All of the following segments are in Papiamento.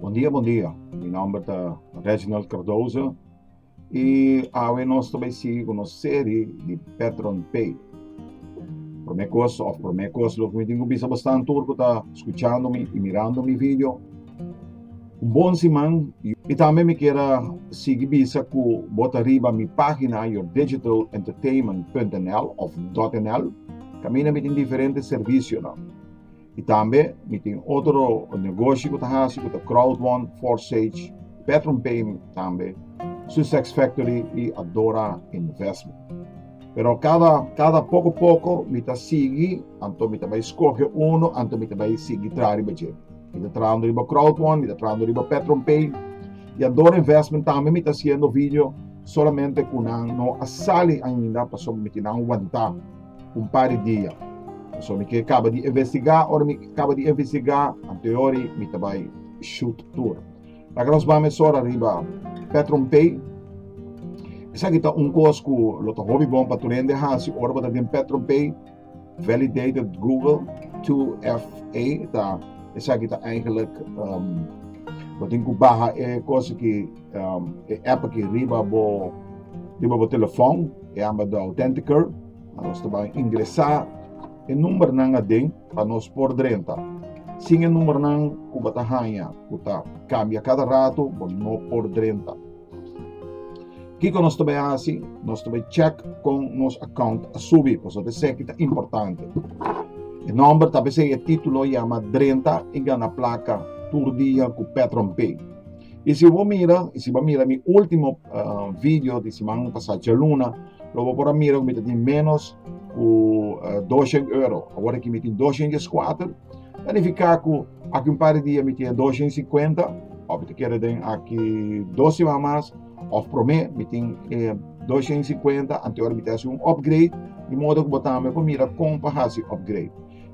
Bon dia bon dia mi nomber ta Reginald Cardoso y awe nos ta bay sigui cu nos serie di Petron Pay prome cos of prome cos lo cu mi tin cu bisa bo stan tur cu ta scuchando mi y mirando mi video. Un bon siman i tambe mi kier a sigui bisa ku bo ta riba mi pagina yourdigitalentertainment.nl of .nl kaminda mi tin diferente servisionan i tambe mi tin otro negoshi ku ta hasi ku ta crowdone forsage patronpay tambe susexfactory i adora investment pero kada kada poko poko mi ta sigui anto mi ta bai skohe uno anto mi ta bai sigui traha riba dje. Mi ta trabando riba crowdfund, mi ta trabando riba PetronPay y Ador Investment tambe mi ta haciendo video solamente cu nan no a sali ainda pasobra mi kier nan wanta un par di dia. Pasobra mi kier caba di investiga, ora mi caba di investiga anteori mi ta bay shoot tur. Laga nos ba mesora riba PetronPay. Esaki ta un cos cu lo ta hopi bon pa tur hende haci ora bo ta den PetronPay. Validated Google 2FA ta esaki ta eigenlijk um, bo tin ku baha e kos ki um, e app ki riba bo riba bo telefon e amba do Authenticator nos ta ingresa e number nan aden pa nos por drenta sin e number nan ku bata hanya ku ta kambia kada rato bo no por drenta Kiko nos ta bai hasi? Nos ta bai chèk kon nos akount a subi, pasobra eseki ta importante. E nòmber ta pesei e título yama Drenta i Gana Plaka tur dia ku Petronpay. I si bo mira, i si bo a mira mi último uh, video di siman pasá djaluna, lo bo por a mira ku mi ta tin ménos ku uh, 200 euro. Awor aki mi tin 204, ta nifiká ku Aki un par di dia mi tin dosha i singkuenta, òf mi ta keda den aki dos siman mas, òf promé mi tin dosha i singkuenta, anto ora mi ta hasi un òpgrade, di modo ku bo tambe por mira kon pa hasi òpgrade.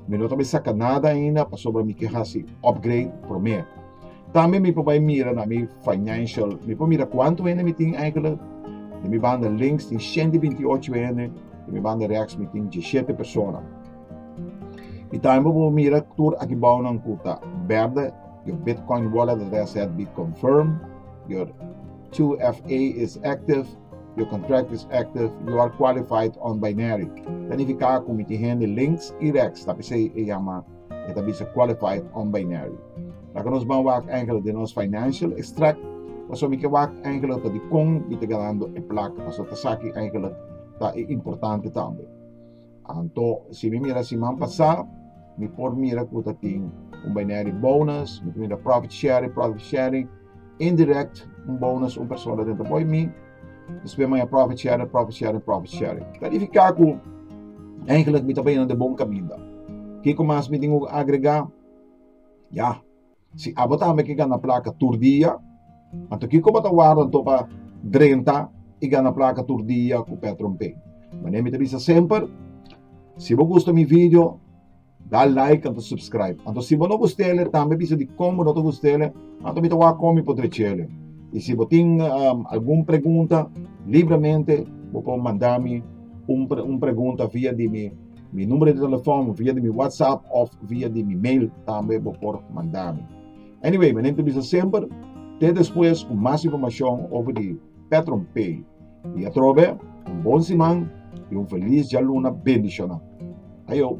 Mi no ta bai saka nada ainda pasobra mi ke hasi òpgrade promé. Tambe mi por bai mira na mi financial, mi por mira kuantu hende mi tin eigentlik. Den mi banda links tin shente binti ocho hende, den mi banda rèks mi tin dieshete persona. I tambe bo por mira tur aki bounan ku ta bèrdè, your Bitcoin wallet dat a set be confirmed, your 2FA is active, your contract is active, you are qualified on Binary. Ta nifiká ku mi tin hende links i rex, ta p'esei e yama, e ta bisa qualified on Binary. Laga nos ban wak enkele den nos financial extract, pasobra mi ke wak enkele ta dikon mi ta ganando e plak, pasobra ta sa ki enkele ta e importante tambe. Anto, si mi mira siman pasá, mi por mira ku ta tin un binary bonus, mi ta mira profit sharing, profit sharing, indirect un bonus un persona den ta boi mi, despues maña profit sharing, profit sharing, profit sharing. Ta nifiká ku eigenlijk mi ta baña na e bon kaminda. Kiko mas mi tin ku agregá? Ya. Si abo ta home ki gana plaka tur dia, anto kiko bo ta warda anto pa drenta i gana plaka tur dia ku Petronpay? Mane mi ta bisa semper, si bo gusta mi video, da like anto subscribe. Anto si bo no gust'ele, tambe bisa di kon bo no ta gust'ele, anto mi ta wak kon mi por drech'ele. I si bo tin algun pregunta, libremente bo por manda mi un pregunta via di mi. Mi numero di telefon via di mi WhatsApp of via di mi mail tambe bo por manda mi. Anyway, mi nente bisa semper te despues cu mas informacion over di Petron Pay. Y atrobe, un bon siman y un feliz djaluna bendicional. Ajo!